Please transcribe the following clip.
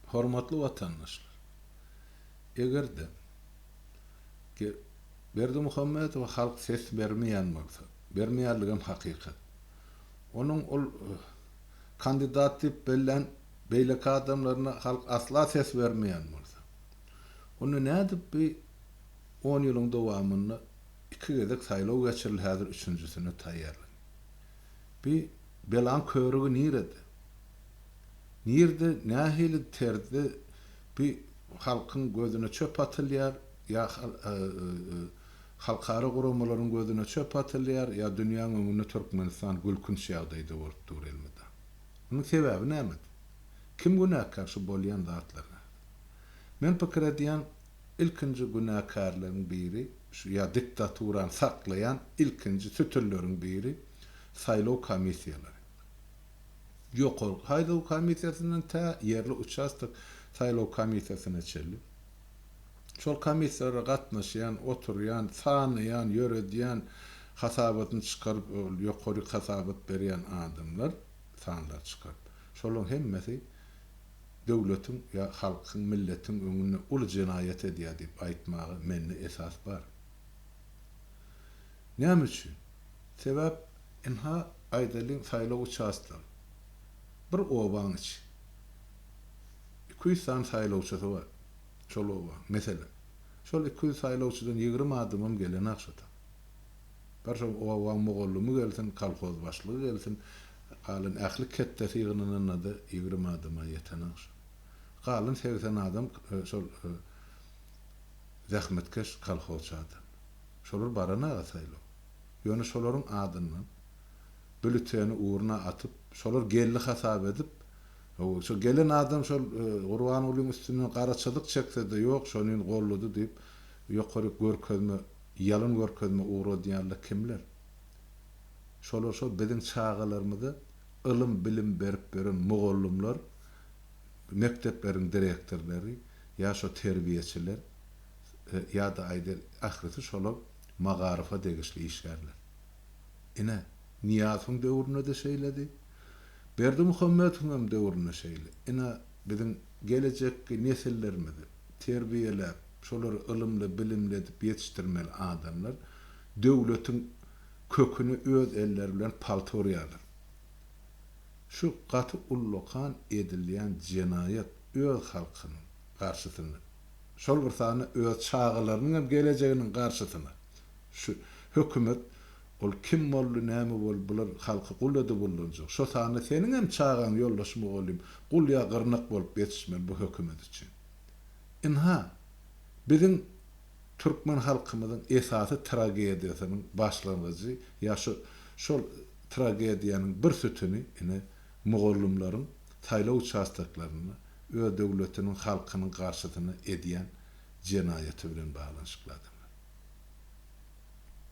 Hormatly watandaşlar! Eger-de Berdimuhamedowa halk ses bermeýän bolsa, bermeýänligem hakykat, onuň ol kandidat diýip bellän beýleki adamlaryna halk asla ses bermeýän bolsa, onda nädip bu on ýylyň dowamynda iki gezek saýlaw geçirildi, häzir üçünjisine taýýarlanyp. Bu belaň körügi nirede? Nirde nähili terzde bi halkyň gözüne çöp atylýar ýa halkara guramalaryň gözüne çöp atylýar ýa dünýäň öňünde Türkmenistan gülkünç ýagdaýda bolup dur elmydam. Munuň sebäbi nämede? Kim günäkär şu bolýan zatlara? Men pikir edýän ilkinji günäkärleriň biri şu ýa diktaturany saklaýan ilkinji sütünleriň biri saýlaw komissiýalary. Ýokarky saýlaw komissiýasyndan tä ýerli uçastok saýlaw komissiýasyna çenli şol komissiýalara gatnaşýan, oturýan, sanaýan, ýöredýän, hasabatyny çykaryp ol ýokaryk hasabat berýän adamlar sanlar çykaryp, şolaryň hemmesi döwletiň ýa halkyň, milletiň öňünde uly jenaýat edýär diýip aýtmaga mende esas bar. Näme üçin? Sebäp ynha aýdalyň saýlaw uçastgy. Bir obaň içi. Iki ýüz sany saýlawçysy bar şol obaň. Meselem. Şol iki ýüz saýlawçydan ýigrimi adamam gelenok şota. Bir şo obaň mugallymy gelsin, kolhoz başlygy gelsin, galan ähli ketdesi ýygnananda-da ýigrimi adama ýetenok şo. Galan segsen adam şol zähmetkeş kolhozçy adam. Şolar baran aga saýlaw. Ýöne şolaryň adyndan bülüteni urna atyp, şolar geldi hasap edip, şo gelen adam şol Gurbangulyň üstünden garaçalyk çekse-de, ýok, şonyn goldady diýip, ýokaryk görkezme, ýalan görkezme ugradýanlar kimler? Şolar şo biziň çagalarymyza ylym-bilim berip ýören mugallymlar, mekdepleriň direktorlary ýa şo terbiýeçiler. ýa-da aýdel, ählisi şolar magaryfa degişli işgärler. Ine, Nyýazowyň döwründe-de şeýledi. Berdimuhamedowyňam döwründe şeýle. Ine, biziň gelejekki nesillerimizi terbiýeläp, şolary ylymly-bilimli edip ýetişdirmeli adamlar döwletiň köküni öz elleri bilen palta urýarlar. Şu gaty ullakan edilýän jenaýat öz halkynyň garşysynda şol bir sany öz çagalarynyň hem gelejeginiň garşysyna şu hökümet ol kim boldy näme boldy bular halky gul edip ullanjak şo sany seniň hem çagaň ýoldaş mugallym gul ýa gyrnak bolup ýetişmeli bu hökümet üçin ynha biziň türkmen halkymyzyň esasy tragediýasynyň başlangyjy ýa şo şol tragediýanyň bir sütüni ine Mugallymlaryň saýlaw uçastoklarynda öz döwletiniň halkynyň garşysyna edýän jenaýaty bilen baglanyşykly adamlar.